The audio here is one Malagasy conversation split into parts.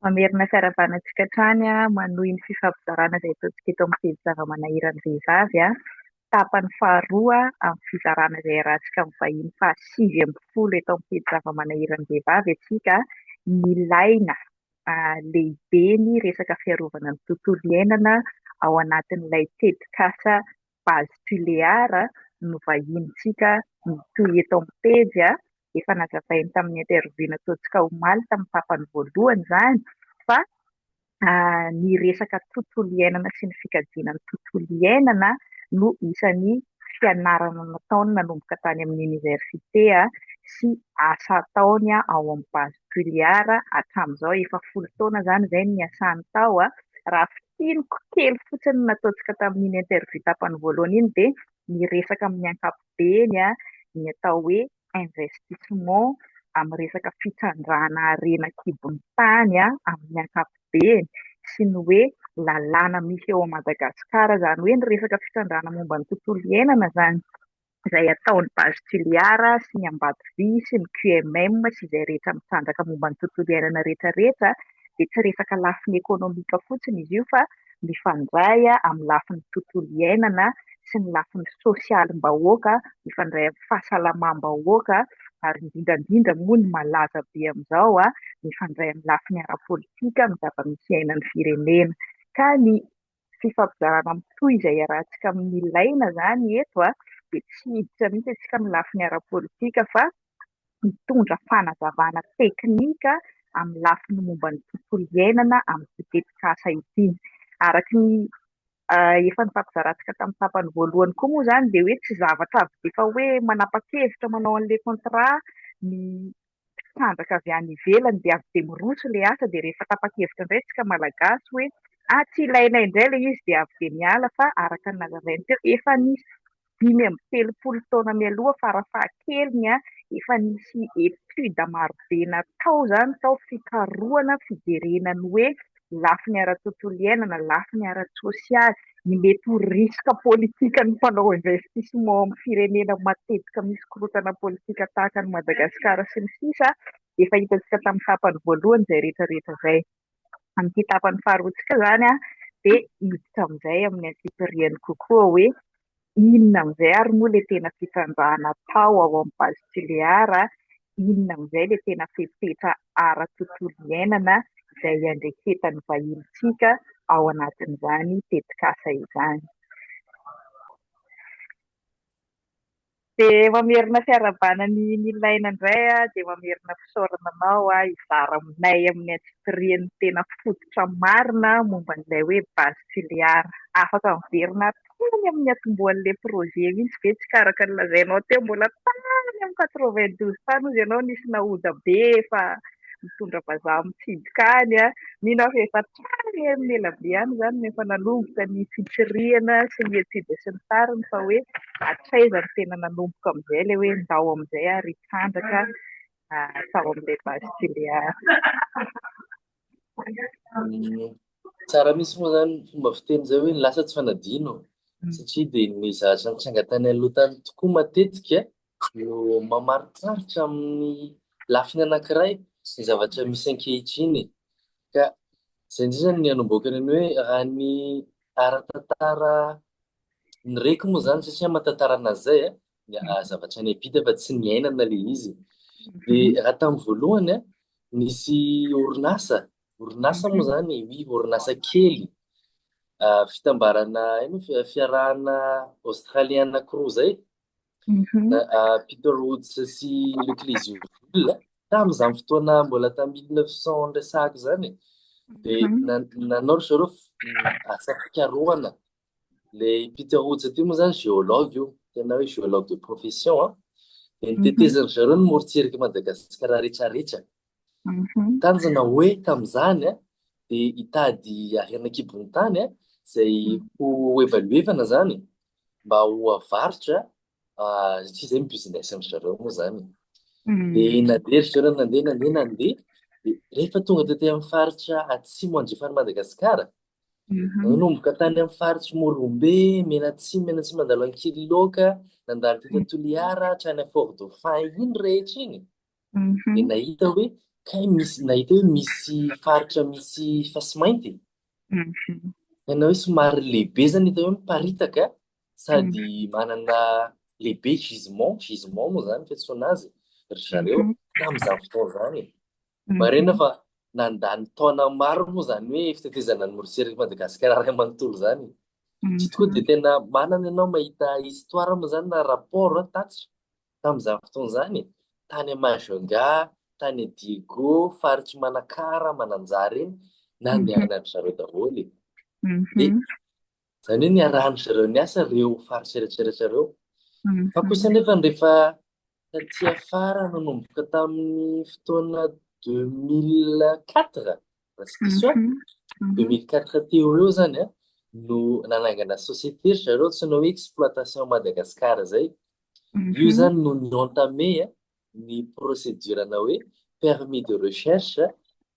Mamerina fiaravana antsika hatrany manohy ny fifampizarana izay ataontsika eto amin'ny pejy zava-manahiran'ny vehivavy tapany faharoa amin'ny fizarana izay iarahantsika amin'ny vahiny faha sivy ambin'ny folo eto amin'ny pejy zava-manahiran'ny vehivavy antsika nilaina lehibe ny resaka fiarovana ny tontolo iainana ao anatin'ilay tetikasa base Tulear no vahinintsika mitohy eto amin'ny pejy. Efa nazavainy tamin'ny interview nataontsika omaly tamin'ny tapany voalohany izany fa ny resaka tontolo iainana sy ny fikajiana ny tontolo iainana no isan'ny fianarana nataony nanomboka tany amin'ny oniversite sy asa ataony ao amin'ny base Tulear hatramin'izao. Efa folo taona izany izay no niasany tao raha Tsiriko kely fotsiny ny nataontsika tamin'iny interview tapany voalohany iny dia niresaka amin'ny ankapobeny ny atao hoe investissement amin'ny resaka fitrandrahana harena an-kibon'ny tany amin'ny ankapobeny sy ny hoe lalàna misy eo Madagascar, izany hoe ny resaka fitrandrahana momba ny tontolo iainana izany. izay ataon'ny Base Tuliar sy ny Ambatovy sy ny QMM sy izay rehetra mitrandraka momba ny tontolo iainana rehetra rehetra dia tsy resaka lafiny ekonomika fotsiny izy io fa mifandray amin'ny lafiny tontolo iainana sy ny lafiny sosialim-bahoaka, mifandray amin'ny fahasalamam-bahoaka ary indrindra indrindra moa ny malaza be amin'izao an, mifandray amin'ny lafiny ara-politika amin'ny zava-misy iainan'ny firenena ka ny fifampizarana mitohy izay iarahantsika amin'ny ilaina izany eto dia tsy hiditra mihitsy isika amin'ny lafiny ara-politika fa mitondra fanazavana teknika amin'ny lafiny momba ny tontolo iainana amin'ity tetikasa ity. Araka ny efa nifampizarantsika tamin'ny tapany voalohany koa moa izany dia hoe tsy zavatra avy dia efa hoe manapa-kevitra manao an'ilay contrat ny mpisandraka avy any ivelany dia avy dia miroso ilay asa dia rehefa tapa-kevitra indray isika malagasy hoe ah tsy ilainay indray ilay izy dia avy dia miala fa araka ny nalazainy teo efa nisy dimy amby telopolo taona mialoha fara fahakeliny an efa nisy etude marobe natao izany tao fikarohana fijerena ny hoe lafiny ara-tontolo iainana, lafiny ara-tsosialy, ny mety ho risques politiques ny mpanao investissement ao amin'ny firenena matetika misy korontana politika tahaka an'i Madagasikara sy ny sisa Efa hitantsika tamin'ny tapany voalohany izay rehetra rehetra izay. Amin'ity tapany faharoantsika izany dia hiditra amin'izay amin'ny antsipiriany kokoa hoe Inona amin'izay ary moa ilay tena fitrandrahana atao ao amin'ny Base Tulear? Inona amin'izay ilay tena fepetra ara-tontolo iainana izay iandreketan'ny vahinintsika ao anatin'izany tetikasa izany? Dia mamerina fiarahabana ny nilaina indray aho dia mamerina fisaorana anao hizara aminay amin'ny antsipiriany tena fototra marina momba an'ilay hoe Base Tuléar. Afaka miverina hatrany amin'ny niatombohan'ilay projet mihitsy ve tsika araka ny lazainao teo, mbola tany amin'ny quatre-vingt-douze tany hozy ianao nisy naoda be fa nitondra vazaha mitsidika any, mino aho fa efa Tany amin'ny ela be any izany no efa nanomboka ny fitsirihana sy ny etude sy ny tariny fa hoe hatraiza no tena nanomboka amin'izay ilay hoe ndao amin'izay ary hitrandraka tao amin'ilay base Tuléar. Tsara mihitsy moa izany fomba fiteny izay hoe ny lasa tsy fanadino satria dia ny zavatra nitranga tany aloha tany tokoa matetika no mamariparitra amin'ny lafiny anankiray ny zavatra misy ankehitriny ka izay indrindra ny anomboakany ny hoe raha ny ara-tantara ny reko moa izany satria amin'ny tantara anazy izay eh, ny ah, zavatra any am-pita fa tsy niainana le izy dia raha tamin'ny voalohany eh, nisy orinasa orinasa moa izany oui orinasa kely ah, fitambarana ino fi- fiarahana australiana crew izay Mhm. Na- ah, Peter Woods sy Luc Lisieux tamin'izany fotoana mbola tamin'ny 1900 resahako izany dia Mhm. nan- nanao ry zareo f- asa fikarohana le Peter Woods ity moa zany géologue io tena hoe géologue de profession a dia nitetezany zareo ny morontsirak'i Madagasikara rehetrarehetra Mhm. Tanjona hoe tamin'izany a, dia hitady harena an-kibon'ny tany a, izay Mm. ho evaluevana zany mba ho avarotra ah, satria izay ny business an-dry zareo moa zany. Mm. Dia nandeha ry zareo nandeha nandeha nandeha, dia rehefa tonga tety amin'ny faritra atsimo andrefan'i Madagasikara, Mhm. nanomboka tany amin'ny faritry Morombe, Menatsimo, Menatsimo nandalo an'i Kiriloka, nandalo tety Toliara, hatrany amin'ny Fort Dauphin iny rehetra iny. Mhm. Dia nahita hoe kay misy nahita hoe misy faritra misy fasimainty. Mhm. Tena hoe somary lehibe zany hita hoe miparitaka sady mhm. manana lehibe gisement, gisement moa zany fiantsoana azy ry zareo mhm. tamin'izany fotoana izany. Mhm. Marina fa nandany taona maro moa zany hoe fitetezana ny moroserika Madagasikara ray manontolo zany. Tsy tokoa dia tena manana ianao mahita histoire moa zany na rapport tatitra. Tamin'izany fotoana izany, tany Majunga, tany Digo, faritr'i Manakara, Mananjary iny, nandehanan'dry zareo daholo e. Dia mhm. izany hoe niarahan'dry zareo niasa ireo faritra eritreretra ireo. Mhm. Fa kosa nefa rehefa taty afara nanomboka tamin'ny fotoana 2004, Restitution. 2004 teo ho eo zany an, no nanangana société ry zareo antsoina hoe Exploitation Madagascar zay. Io zany no ni-entamer an, ny procédure-na hoe permis de recherche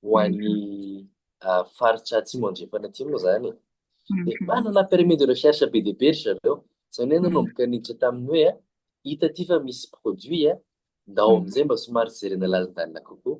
ho an'ny ah, faritra atsimo andrefana aty moa zany e. Dia manana permis de recherche be dia be ry zareo. Izany hoe nanomboka niditra tamin'ny hoe an, hita aty fa misy produit an, ndao amin'izay mba somary jerena lalindalina kokoa.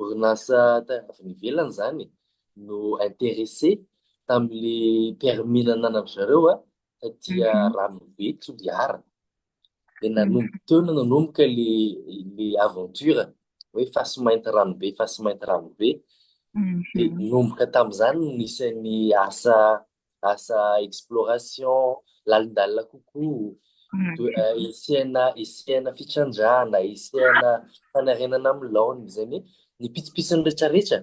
Orinasa tany avy any ivelany izany no interesse tamin'le permis nananandry zareo an, fa dia Ranobe Toliara, dia nanomboka teo no nanomboka le le aventure hoe fasy mainty Ranobe, fasy mainty Ranobe, dia nanomboka tamin'izany no nisy ny asa asa exploration, lalindalina kokoa, hisiana hisiana fitrandrahana, hisiana fanarenana amin'ny laoniny, izay ny ny pitsopitsony rehetrarehetra.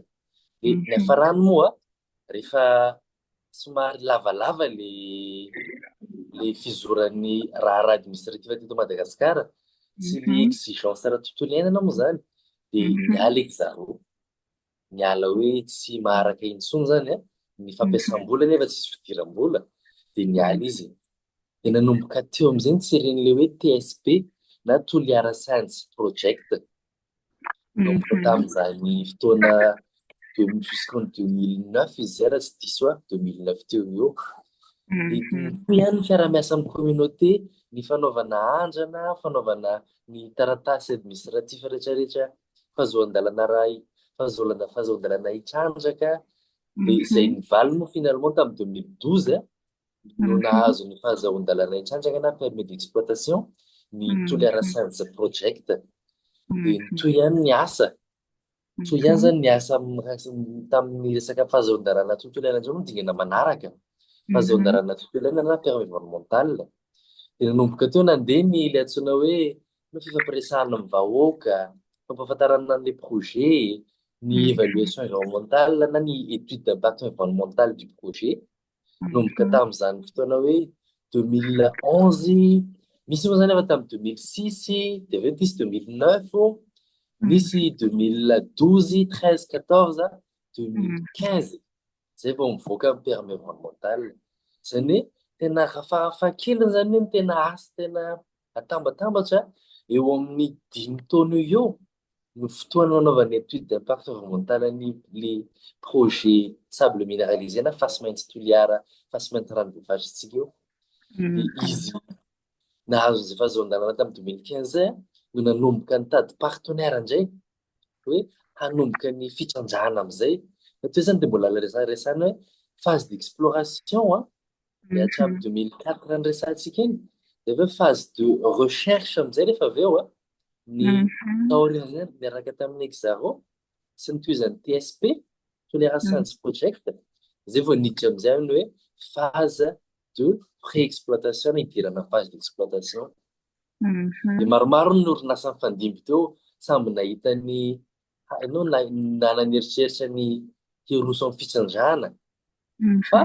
Dia ny hafarany moa, rehefa somary lavalava le le fizoran'ny raharaha administratif teto Madagasikara sy ny exigence ara-tontolo iainana moa izany dia miala eky zareo. miala hoe tsy maharaka intsony zany a, ny fampiasam-bola nefa tsisy fidiram-bola dia niala izy, dia nanomboka teo amin'izay ny seren'ilay hoe TSP na Toliara Science Project, nanomboka tamin'izany fotoana jusqu'en 2009 izy izay raha tsy diso ahy, 2009 teo ho eo, dia toy ihany ny fiaraha-miasa amin'ny communauté, ny fanaovana andrana, fanaovana ny taratasy administratif rehetrarehetra fahazoan-dalana raha fahazoan-dalana fahazoan-dalana hitrandraka dia izay nivaliny moa finalement tamin'ny 2012 no nahazo ny fahazoan-dalana hitrandraka na permis d'exploitation ny Toliara Science Project dia toy ihany ny asa toy ihany zany ny asa tamin'ny resaka fahazoan-dalana tontolo iainana izao no dingana manaraka fahazoan-dalana tontolo iainana na permis environnemental dia nanomboka teo nandeha ny ilay antsoina hoe Ny fifampiresahana amin'ny vahoaka, fampahafantarana an'ilay projet, ny mm. évaluation environnementale na ny étude d'impact environnemental du projet. Mm. Nomboka tamin'izany fotoana hoe 2011, misy moa izany efa tamin'ny 2006, dia avy eo tisy 2009, nisy 2012, 13, 14, 2015. Izay vao mivoaka amin'ny permis environnemental. Izany hoe tena rafahafa kely izany hoe ny tena asa tena Atambatambatra eo amin'ny dimy taona eo eo no fotoana nanaovana étude d'impact horizontal an'io le projet sable minéralisé na fasimainty Toliara, fasimainty ranobevatritsika io. Dia izy nahazo izay fahazon-dalana tamin'ny 2015 no nanomboka nitady partenaire indray hoe hanomboka ny fitrandrahana amin'izay. Fa toy izany dia mbola resaresahana hoe phase d'exploration Miatrika amin'ny 2004 ny resahantsika iny, dia avy eo phase de recherche amin'izay rehefa avy eo ny taorian'izay miaraka tamin'ny Exaro sy ny tohizan'ny TSP, Toliara Science Project, izay vao niditra amin'izay ny hoe phase de pré-exploitation na hidirana amin'ny phase d'exploitation. Dia maromaro ny orinasa nifandimby teo, samy nahita ny Hainao na nanana eritreritra ny hiroso amin'ny fitsinjana fa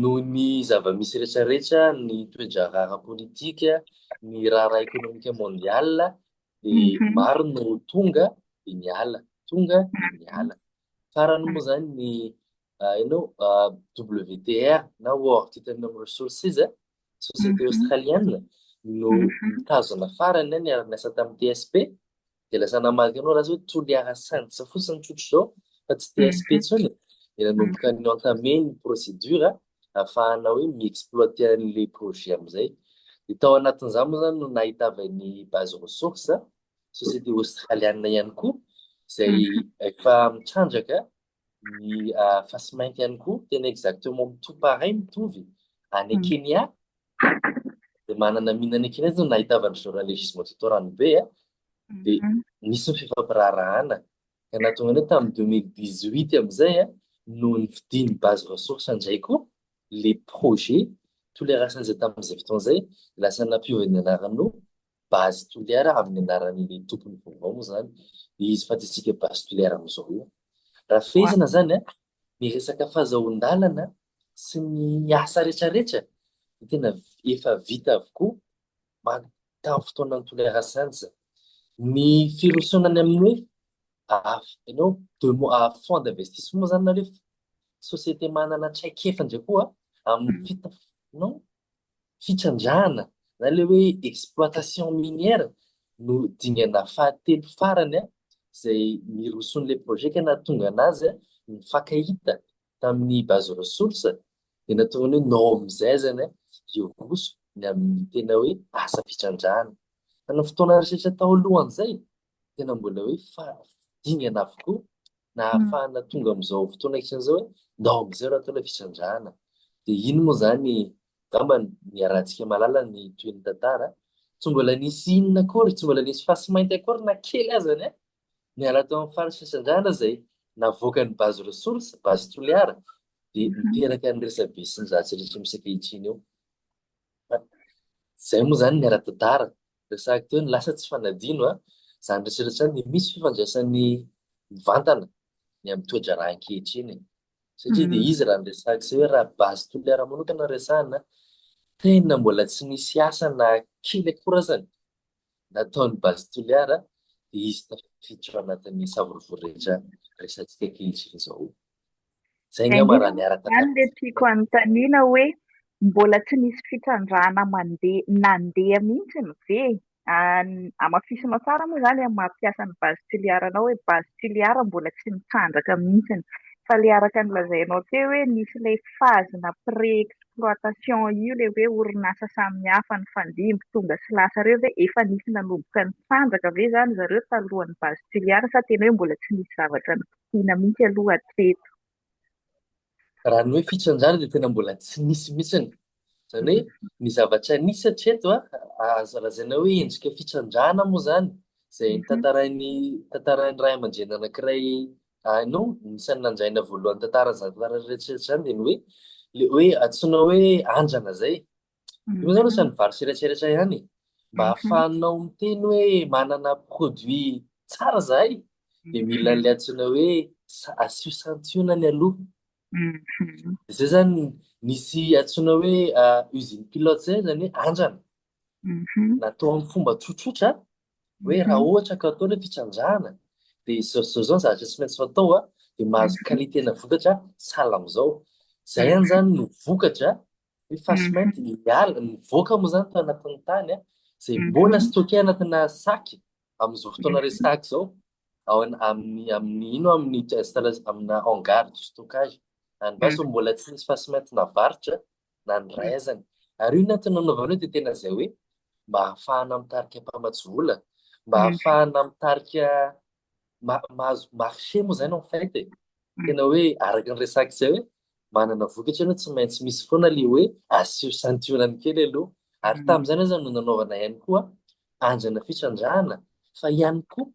noho ny zava-misy rehetrarehetra, ny toe-draharaha ara-politika, ny raharaha ekonomika mondiala dia maro no tonga dia niala, tonga dia niala. Farany moa izany ny hainao WTR na World Titanium Resources, société australienne no mitazona farany niara-niasa tamin'ny TSP Dia lasa namaky anao lasa hoe Toliara Sands fotsiny tsotra izao fa tsy TSP intsony. Dia nanomboka ny entamé ny procédure ahafahana hoe mi-exploiter an'ilay projet amin'izay. Dia tao anatin'izany moa izany no nahitavan'ny base ressource, société australiana ihany koa izay efa mitrandraka ny fasimainty ihany koa tena exactement mitovy pareil mitovy any Kenya dia manana mine any Kenya zany nahitava ny journal Legismo Tito Ranobe a dia nisy ny fifampiraharahana ka nahatonga an'io tamin'ny 2018 amin'izay a no nividian'ny base ressource indray koa le projet tolerasan'izay tamin'izay fotoana izay lasa nampiova ny anaranao base toliara amin'ny anaran'ilay tompony vaovao moa zany le izy fa tsy isika base toliara amin'izao io. Raha fehezina zany a, ny resaka fazahoan-dalana sy ny asa retraretra dia tena efa vita avokoa man- tamin'ny fotoanan'ny toliara saingy zany. Ny firosoana any amin'ny hoe af- ianao demo- ah, fonds d'investissement zany nareo société manana traikefa ndray koa amin'ny fita non fitrandrahana na ilay hoe exploitation minière no dingana fahatelo farany izay niroso an'ilay projet ka nahatonga an'azy nifankahita tamin'ny base ressource dia nahatonga ny hoe nao amin'izay azany hiroso ny amin'ny tena hoe asam-pitrandrahana. Fa ny fotoana rehetra tao alohan'izay tena mbola hoe fahadingana avokoa na hahafahana tonga amin'izao fotoana isany izao hoe ndao amin'izay raha tena fisandrahana dia iny moa izany gamba ny arantsika malala ny toy ny tantara tsy mbola nisy inona akory tsy mbola nisy fasy mainty akory na kely azany a niala tao amin'ny farisy fisandrahana izay navoaka ny bazy ressource bazy toliara dia miteraka ny resabe sy ny zatsy rehetra misy ankehitriny eo izay moa izany ny ara-tantara Resahiko teo ny lasa tsy fanadino a! Izany resetra izany dia misy fifandraisany mivantana ny amin'ny toe-draharaha ankehitriny e! Satria dia izy raha ny resahiko izay hoe raha base Toliara manokana no resahina, tena mbola tsy nisy asa na kely akory azany nataon'ny base Toliara dia izy tafiditra ao anatin'ny savorovoro rehetra resahantsika ankehitriny izao. Zay ngamba raha niaraka taminy. Zany le tiako anontaniana hoe mbola tsy nisy fitrandrahana mandeha nandeha mihitsiny ve? Hamafisinao tsara moa zany amin'ny maha mpiasa ny base Toliara anao hoe base Toliara mbola tsy nitrandraka mihitsiny fa le araka ny lazainao teo hoe nisy ilay phase na pré exploitation io le hoe orinasa samihafa nifandimby tonga sy lasa reo ve efa nisy nanomboka nitrandraka ve zany zareo talohan'ny base Toliara sa tena hoe mbola tsy nisy zavatra nitrandraka? Vina mihitsy aloha hatreto. Raha ny hoe fitrandrahana dia tena mbola tsy nisy mihitsiny. Izany hoe ny zavatra nisy hatreto azo lazaina hoe endrika fitrandrahana moa izany, izay mhm. tantarain'ny tantarain'ny ray aman-dreny anankiray any no isan'ny nandraina voalohany tantaran'izany tantaran'iretsiretsy izany dia ny hoe le hoe antsoina hoe andrana izay. Io zany lasa ny vary sy eretreretra ihany e. Mba Mhm. ahafahanao miteny hoe manana produit tsara zahay dia mila an'ilay antsoina hoe sa- asio santionany aloha. Mhm. Izay zany nisy antsoina hoe ah, usine pilote zay zany hoe andrana. Mhm. Natao amin'ny fomba tsotsotra hoe raha Mhm. ohatra ka atao ilay fitrandrahana dia izao izao izao ny zavatra tsy maintsy fatao a, dia mahazo Mhm. qualité-na vokatra sahala amin'izao. Izay ihany zany no vokatra ny face mainty dia miala, mivoaka moa izany tao anatin'ny tany an, izay mbola stocké anatina sac amin'izao fotoana resahako izao, ao amin'ny amin'ny ino amin'ny installation amina hangar de stockage, any basy hono mbola tsy nisy face mainty navarotra na ny iray azany. Ary io ny antony nanaovana io dia tena izay hoe mba ahafahana mitarika mpamatsy vola, mba ahafahana mitarika mahazo marché moa izany en fait e. Tena hoe araka ny resaka izay hoe manana vokatra ianao tsy maintsy misy foana ilay hoe asio santionany kely aloha. Ary mm. tamin'izany aza no nanaovana ihany koa andrana fitrandrahana fa ihany koa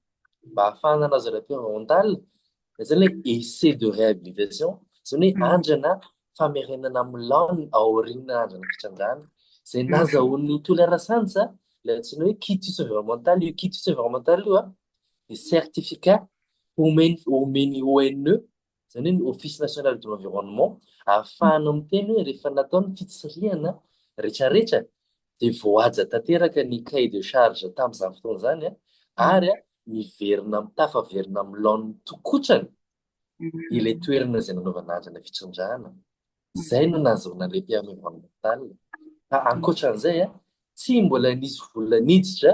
mba hahafahana anazy rap rental izany hoe essai de réhabilitation izany hoe mm. andrana famerenana amin'ny laoniny ao aoriana andro ny fitrangana izay mm. nazahoan'ny tolerasansa ilay antsoina hoe quitus environnemental io quitus environnemental io a dia certificat omeny omeny ONE izany hoe ny Office National de l'Environnement ahafahana miteny hoe rehefa natao ny fitsirihana rehetrarehetra dia voahaja tanteraka ny cahier de charge tamin'izany fotoana izany a mm. ary a miverina mitafaverina amin'ny laoniny tokotrany ilay toerana izay nanaovana azy ilay fitrandrahana, izay no nahazoana ilay permis environnemental. Fa ankoatran'izay, tsy mbola nisy vola niditra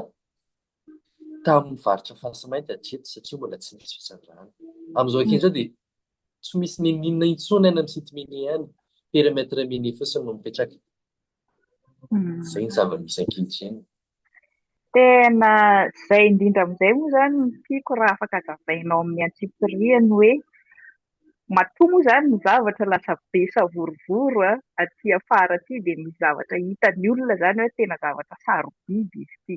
tamin'ny varotra fasimainty hatreto satria mbola tsy nisy fitrandrahana. Amin'izao ankehitriny izao dia tsy misy n'inon'inona intsony any amin'ny site minier any, périmètre minier fotsiny no mipetraka. Mm. Zay ny zava-misy ankehitriny. Tena zay indrindra amin'izay moa zany ny tiako raha afaka zavainao amin'ny antsipirihany hoe matoa moa zany ny zavatra lasa be savorovoro a, aty afara aty dia misy zavatra hitan'ny olona zany hoe tena zavatra sarobidy izy ity.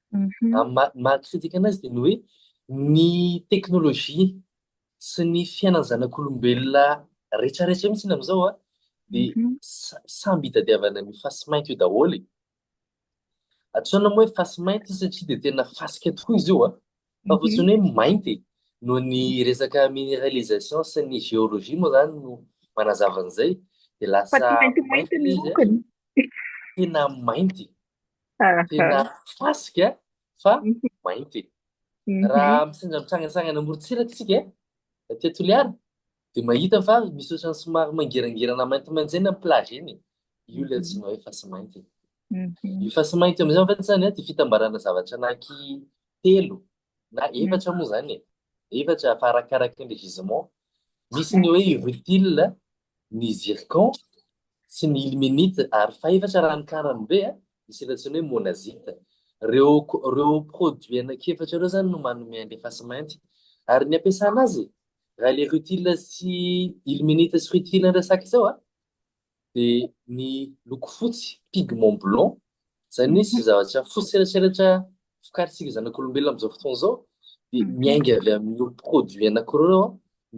Ny maha kritika anazy dia ny hoe ny teknolojia sy ny fiainan'ny zanak'olombelona retraretra io mitsiny amizao a dia samby itadiavana ny fasy mainty io daholo e. Atsoina moa hoe fasy mainty io satria dia tena fasika tokoa izy io a, fa fotsiny hoe mainty e. Noho ny resaka minéralisation sy ny géologie moa zany no manazava an'izay dia lasa mainty izy a, tena mainty. Tena fasika fa mainty. Raha mitsinja mitsangantsangana amoron-tsiraka isika aty Toliara dia mahita fa misy ohatran'ny somary mangirangirana maintimainty izay ny amin'ny plage iny. Io ilay antsoina hoe fasy mainty. Io fasy mainty io amin'izay mantsy izany dia fitambarana zavatra anaky telo na efatra moa zany e efatra fa arakaraka ny gisement misy ny hoe rutile ny zircon sy ny ilmenite ary fa efatra raha ny karany be a misy ilay antsoina hoe monazite reo reo produit anakefatra reo zany no manome an'le face mainty ary ny ampiasana azy raha le rutile sy ilmenite sy rutile resaka zao a dia ny loko fotsy, pigment blanc, izany hoe izay zavatra fotsy selatselatra vokarintsika zanak'olombelona amin'izao fotoana izao dia miainga avy amin'ireo produits anankiroa ireo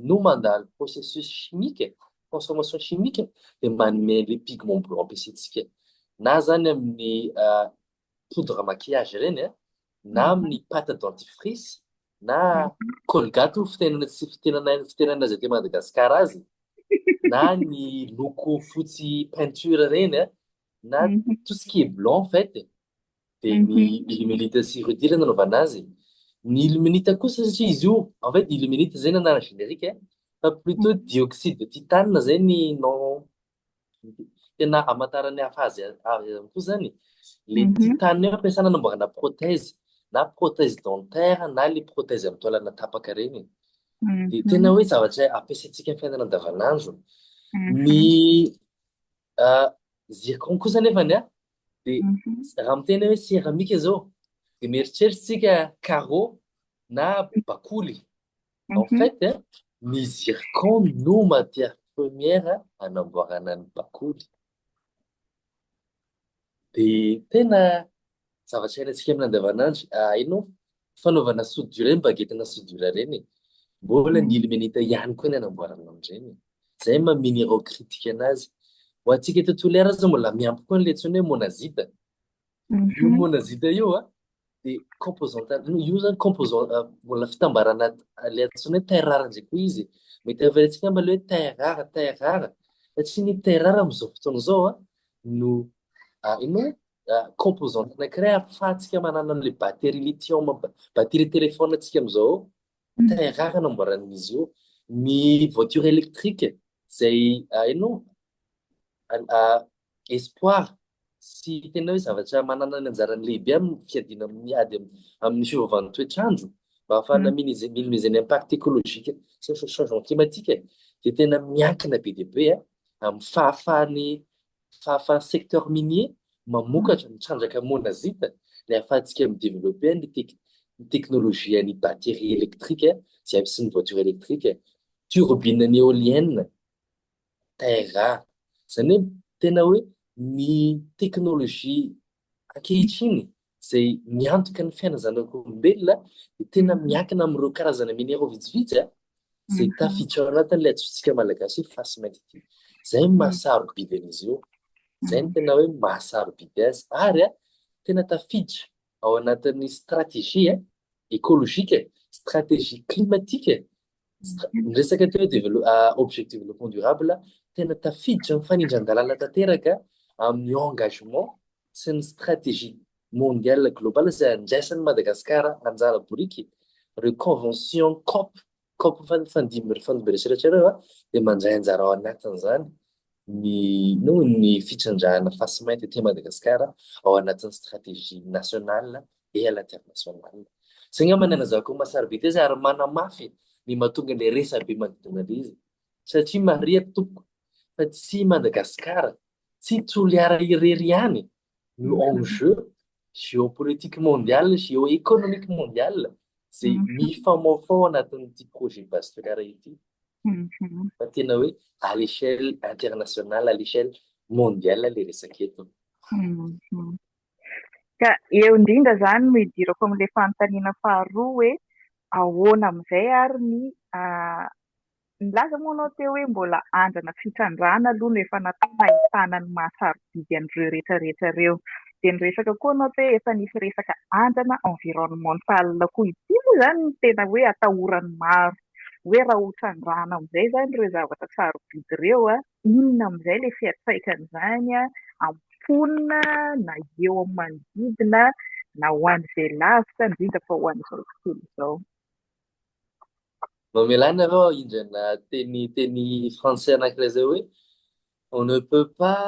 no mandalo processus chimique, transformation chimique dia manome an'ilay pigment blanc ampiasaintsika na izany amin'ny poudre maquillage ireny a, na amin'ny pâte dentifrice, na Colgate hoy ny fitenena tsy fitenanay ny fitenana izay aty Madagasikara azy, na ny loko fotsy peinture ireny a, na tout ce qui est blanc en fait e, dia ny illuminite sy Rudy ilay nanaovana azy e. Ny illuminite kosa satria izy io, en fait illuminite izay ny anarany générique e, fa plutôt dioxyde de titane izay ny nom Tena hamantaran'ny hafa azy avy ihany koa izany le mhm. titane ampiasana namboarana prothèse na prothèse dentaire na le prothèse amin'ny taolana tapaka ireny. Mhm. Dia tena hoe zavatra ampiasaintsika amin'ny fiainana andavanandro. Mhm. Ny ah, zircon kosa nefa ny a dia raha miteny hoe seramika izao dia mieritreritra tsika carreau na bakoly. En fait, ny zircon no matière première anamboarana ny bakoly. Dia tena zavatra iainantsika amin'ny andavanandro. Hainao, fanaovana soudure ny bagetina soudure ireny e. Mbola ny ilmenita ihany koa ny anamboarana an'ireny. Izay no maha minerais critique anazy. Ho antsika eto Toliara aza mbola miampy koa an'ilay antsoina hoe monazite. Io monazite io an, dia composante io zany composant euh, mbola fitambarana le antsoina hoe terre rare ndray koa izy mety averentsika amba le hoe terre rare terre rare satria ny terre rare amin'izao fotoana izao a no ah, ino ah, composante anankiray ahafahantsika manana an'le batterie lithium batterie téléphone antsika amin'izao très rare namboaran'izy io ny voiture électrique izay hainao espoir sy tena hoe zavatra manana ny anjarany lehibe amin'ny fiadiana amin'ny ady amin'ny fiovan'ny toetr'andro mba hahafahana minimiser ny impact écologique sy ny changement climatique dia tena miankina be dia be amin'ny fahafahan'ny Fahafahan'ny secteur minier mamokatra mitrandraka monazite ny ahafahantsika mi-developper ny ny teknolojian'ny batterie électrique izay ampisin'ny voiture électrique, turbine an'ny éolienne, terra. Izany hoe tena hoe ny teknolojia Ankehitriny, izay miantoka ny fiainan'ny zanak'olombelona dia tena miankina amin'ireo karazana minera vitsivitsy izay tafiditra ao anatin'ilay antsointsika malagasy hoe fasimainty ity. Izay no maha-sarobidy an'izy io. Izay no tena hoe maha-sarobidy azy. Ary tena tafiditra ao anatin'ny stratégie écologique, stratégie climatique Miresaka teo hoe objectif développement durable, tena tafiditra amin'ny fanindran-dalàna tanteraka amin'ny engagement sy ny stratégie mondiale globale izay andraisan'i Madagasikara anjara boriky. Ireo convention COP, COP fandimby ireo serasera ireo dia mandray anjara ao anatin'izany. ny noho ny fitrandrahana fasimainty aty Madagasikara ao anatin'ny stratégie nationale et à l'international. Zay ngamba ny anazavako an'i Masarybe tezay ary manamafy ny mahatonga ilay resabe manodidina ilay izy satria marihako tompoko fa tsy i Madagasikara, tsy Toliara irery ihany no enjeu géopolitique mondial, géoéconomique mondial izay mifamaofao anatin'ity projet base Ferrara ity. Fa tena hoe à l'échelle internationale, à l'échelle mondiale le resaka eto. Ka eo indrindra izany no idirako amin'ilay fanontaniana faharoa hoe ahoana amin'izay ary ny Nilaza moa ianao teo hoe mbola andrana fitrandrahana aloha no efa natao mba hahitana ny maha sarobidy an'ireo rehetra rehetra ireo. Dia niresaka koa ianao hoe efa nisy resaka andrana environnemental koa. Ity moa izany no tena hoe atahoran'ny maro hoe raha ho trandrahana amin'izay izany ireo zavatra sarobidy ireo, inona amin'izay ilay fiantraikan'izany amin'ny mponina na eo amin'ny manodidina na ho an'izay lavitra indrindra fa ho an'izao tontolo izao. Mamelà anareo aho indry ana teny teny français anankiray zay hoe on ne peut pas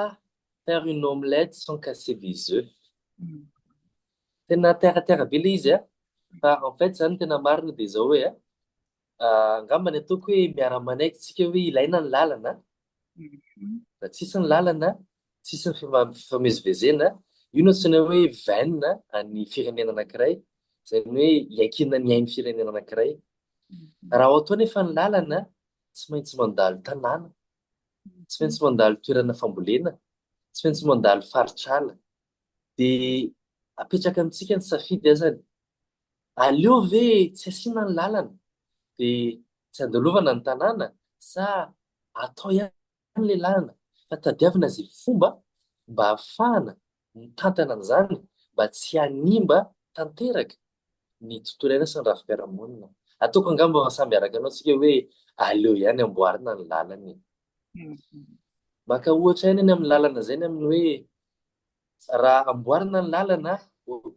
faire une omelette sans casser des oeufs. Tena terre à terre be le izy a! Fa en fait zany tena marina de zao hoe a, angamba ny ataoko hoe miara-manaiky tsika hoe ilaina ny lalana a! Raha tsisy ny lalana Tsisy ny fifamezivezena, io no antsoina hoe veine an'ny firenena anankiray, izany hoe iankinan'ny ain'ny firenena anankiray. Raha ohatra anefa ny lalana, tsy maintsy mandalo tanàna, tsy maintsy mandalo toerana fambolena, tsy maintsy mandalo faritr'ala. Dia apetraka amintsika ny safidy azany, aleo ve tsy asiana ny lalana dia tsy andalovana ny tanàna sa atao ihany Izany ilay lalana, fa tadiavina izay fomba mba hahafahana mitantana an'izany mba tsy hanimba tanteraka ny tontolo iainana sy ny rafi-piarahamonina. Ataoko angamba fa samy araka anao isika hoe aleo ihany amboarina ny lalana e! Maka ohatra ihany any amin'ny lalana izay ny amin'ny hoe raha amboarina ny lalana,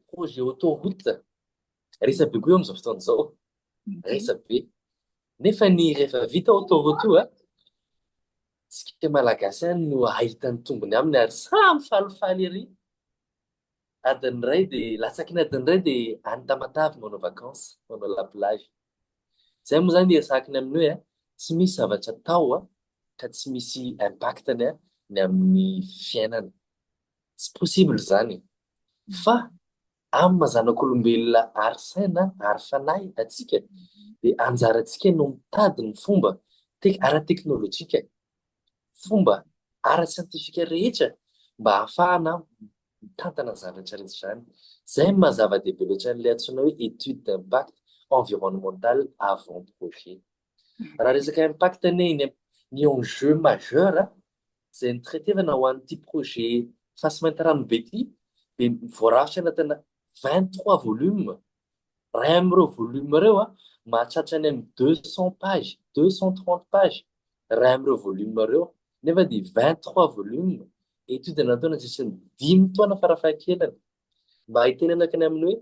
projet autoroute, Resa be koa eo amin'izao fotoana izao. Resa be. Nefa ny rehefa vita ao Toronto a, isika malagasy ihany no hahita ny tombony aminy ary samy falifaly ery. Adiny iray dia, latsaky ny adiny iray dia any Tamatave manao vacances, manao la plage. Izay moa izany iresahako ny amin'ny hoe a, tsy misy zavatra atao a, ka tsy misy impact-ny a, ny amin'ny fiainana. Tsy possible izany e. Fa Amin'ny maha zanak'olombelona ary saina ary fanahy antsika dia anjarantsika no mitady ny fomba ara-teknolojika, fomba ara-tsiantifika rehetra mba hahafahana mitantana izany rehetra rehetra izany. Izay no maha zava-dehibe loatra an'ilay antsoina hoe étude d'impact environnemental avant projet. Raha resaka impact anie, ny enjeu majeur izay notraitevana ho an'ity projet Fasy Mainty Ranobe ity dia voarafitra anatina vingt trois volumes, iray amin'ireo volumes ireo mahatratra any amin'ny deux cents pages, deux cents trente pages iray amin'ireo volumes ireo nefa dia vingt trois volumes, étude natao nandritra ny dimy taona farafahakeliny mba hitenenako ny amin'ny hoe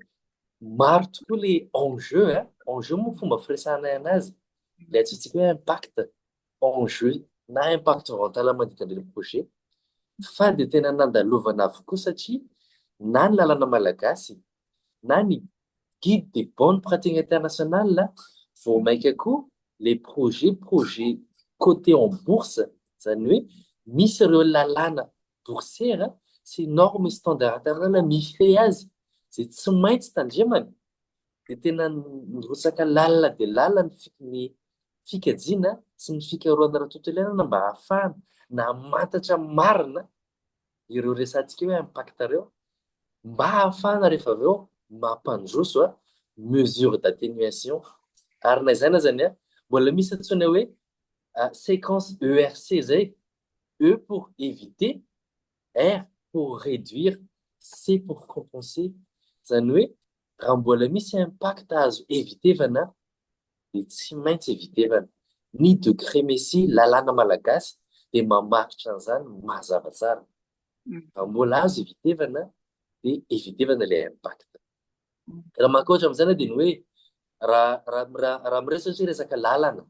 maro tokoa ilay enjeu, enjeu moa fomba firesahanay an'azy, ilay antsointsika hoe impact. enjeux na impact vao an-tanàna manodidina an'ireny projet fa dia tena nandalovana avokoa satria na ny lalana malagasy na ny guide des bonnes pratiques internationales vao mainka koa les projets projets cotés en bourse izany hoe misy ireo lalàna boursière sy normes standards internationales mifehy azy izay tsy maintsy tandremana dia tena nirotsaka lalina dia lalina ny fi- ny fikajiana sy ny fikarohana raha tontolo iainana mba hahafahana namantatra marina ireo resantsika hoe impact ireo mba hahafahana rehefa avy eo mampandroso a mesure d'atténuation ary na izany azany a mbola misy antsoina hoe ah, séquence ERC zay E pour éviter R pour réduire, C pour compenser, izany hoe raha mbola misy impact azo evitevana dia tsy maintsy evitevana. Ny degré mesy lalàna malagasy dia mamaritra an'izany mazava tsara. Raha mbola azo evitevana dia evitevana ilay impact. Raha mankoatra amin'izany dia ny hoe raha miresaka resaka lalana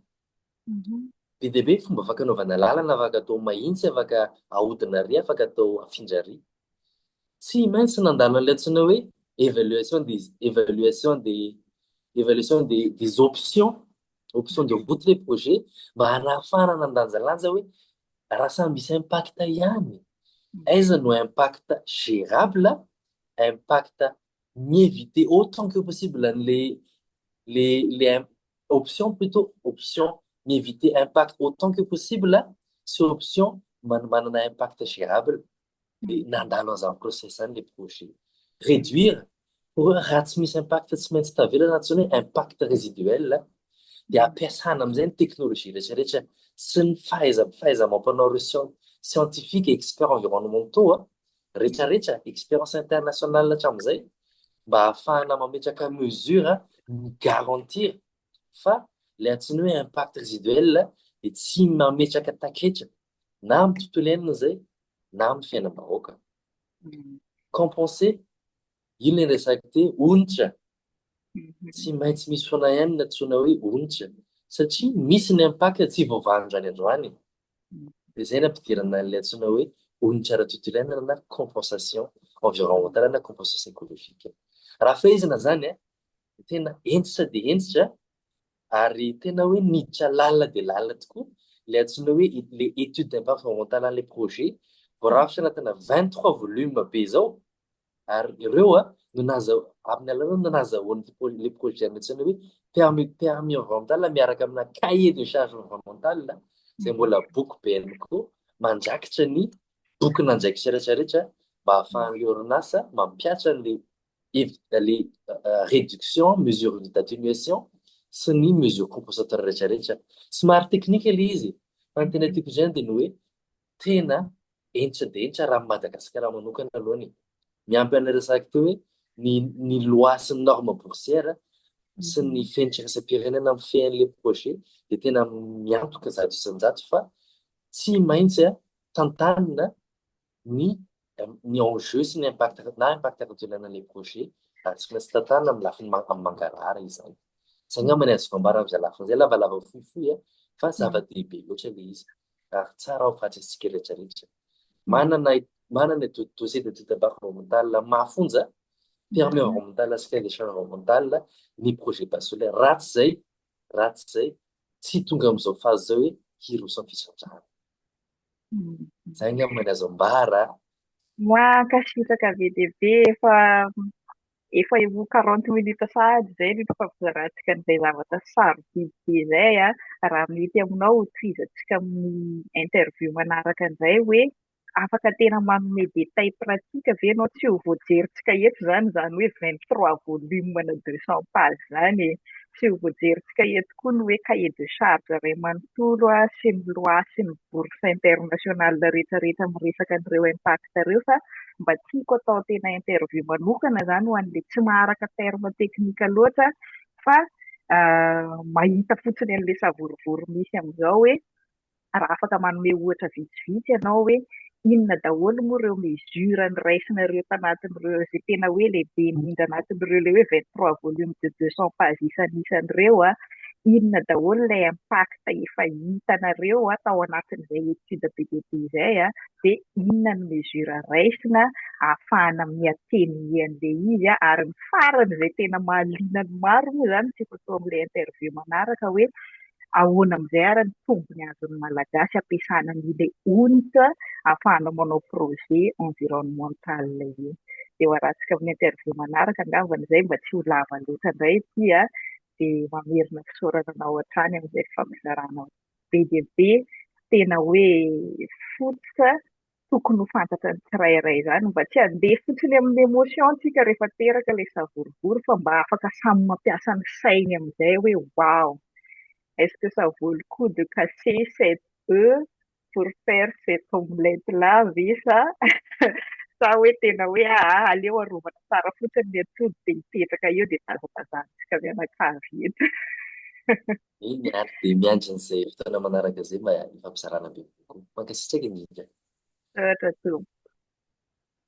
Be dia be ny fomba afaka anaovana lalana afaka atao mahintsy afaka ahodina ary afaka atao afindra ary. Tsy maintsy nandalo an'ilay antsoina hoe evaluation des evaluation des evaluation des des options options de route ilay projet mba hanahafahana nandanjalanja hoe raha samy misy impact ihany aiza no impact gérable impact mi-eviter autant que possible an'le le le option plutôt option mi-eviter impact autant que possible sy option manana impact gérable dia nandalo an'izany process izany le projet. Réduire pour raha tsy misy impact tsy maintsy tavela na antsoina hoe impact résiduel dia ampiasana amin'izay ny teknolojia rehetra rehetra sy ny fahaiza fahaiza-mampanao ireo scientifiques experts environnementaux retraretra, experience internationale hatramin'izay mba hahafahana mametraka mesure mi garantir fa ilay antsoina hoe impact résiduel dia tsy mametraka taketra na amin'ny tontolo iainana izay na amin'ny fiainam-bahoaka. Compenser, iny ilay resako te onitra, tsy maintsy misy foana ihany ny antsoina hoe onitra satria misy ny impact tsy voavaha androany androany. Dia izay no ampidirana an'ilay antsoina hoe onitra ara-tontolo na compensation environnementale na compensation écologique. Raha fehezina izany dia tena hentitra dia hentitra ary tena hoe niditra lalina dia lalina tokoa ilay antsoina hoe ilay étude d'impact environnemental an'ilay projet voarafitra anatina 23 volumes be izao ary ireo a no naza amin'ny alalana nazahoany le projet antsaina hoe permis permis environnemental miaraka amina cahier de charge environnemental izay mbola boky BMCO mandrakitra ny boky nandraikitra rehetra rehetra mba ahafahan'le orinasa mampiatra le le réduction mesure d'atténuation sy ny mesure compensatoire rehetra rehetra somary technique le izy fa ny tena tiako izany dia ny hoe tena hentra dia hentra raha ny Madagasikara manokana aloha ny miampy an'ilay resaka teo hoe ny ny loi sy ny norme boursière sy ny fenitra iraisam-pirenena mifehy an'ilay projet dia tena miantoka zato isan-jato fa tsy maintsy tantanina ny ny enjeu sy ny impact na impact ara-toeanana ilay projet raha tsy maintsy tantanina amin'ny lafiny amin'ny mangarahara izany. Izay angamba ny azoko ambara amin'izay lafiny izay, lavalava fohifohy an, fa zava-dehibe loatra ilay izy ary tsara ho fantatsika rehetrarehetra. Manana manana dossier d'étude d'impact environnemental amin'ny maha fonja, permis environnemental sy cahier des charges environnemental ny projet base solaire. Raha tsy izay, raha tsy izay, tsy tonga amin'izao phase izao hoe hiroso amin'ny fisandrana. Zay ny amin'ny azo ambara. Mankasitraka be dia be efa efa ho 40 minutes sahady izay no ifampizaratsika an'izay zavatra sarobidy be izay a. Raha mety aminao ho tohizantsika amin'ny interview manaraka indray hoe afaka tena manome détails pratiques ve ianao tsy ho voajerintsika eto izany izany hoe 23 volumes na 200 pages izany e. Tsy ho voajerintsika eto koa ny hoe cahier de charge iray manontolo sy ny loi sy ny bourse internationale rehetra rehetra miresaka an'ireo impact ireo fa mba tiako atao tena interview manokana izany ho an'ilay tsy maharaka terme technique loatra fa mahita fotsiny an'ilay savorovoro misy amin'izao hoe raha afaka manome ohatra vitsivitsy ianao hoe inona daholo moa ireo mesures noraisina ireo tanatin'ireo izay tena hoe lehibe indrindra anatin'ireo ilay hoe vingt trois volumes de deux cents pages isan'isany ireo an, inona daholo ilay impact efa hitanareo an tao anatin'izay étude be dia be izay an, dia inona ny mesure raisina ahafahana mi-attenuer an'ilay izy an, ary ny farany izay tena mahaliana ny maro moa izany tsy efa toa amin'ilay interview manaraka hoe ahoana amin'izay ary ny tombony azon'ny Malagasy ampiasana an'ilay onitra ahafahanao manao projet environnemental io. Dia hoarantsika amin'ny interview manaraka angambany izay mba tsy ho lava loatra indray ity an! Dia mamerina fisaorana anao hatrany amin'izay fampizarana be dia be tena hoe fototra tokony ho fantatra ny tsirairay izany mba tsy handeha fotsiny amin'ny emotion tsika rehefa teraka ilay savorovoro fa mba afaka samy mampiasa ny sainy amin'izay hoe wow est-ce que ça vaut le coup de casser cet oeuf pour faire cette omelette là ve sa sa hoe tena hoe aa aleo arovana tsara fotsiny ny atody dia hipetraka eo dia tazatazantsika mianakavy eto Eny ary dia miandry an'izay fotoana manaraka izay mba hifampizarana bebe kokoa. Mankasitraka indrindra. Misaotra tompoko.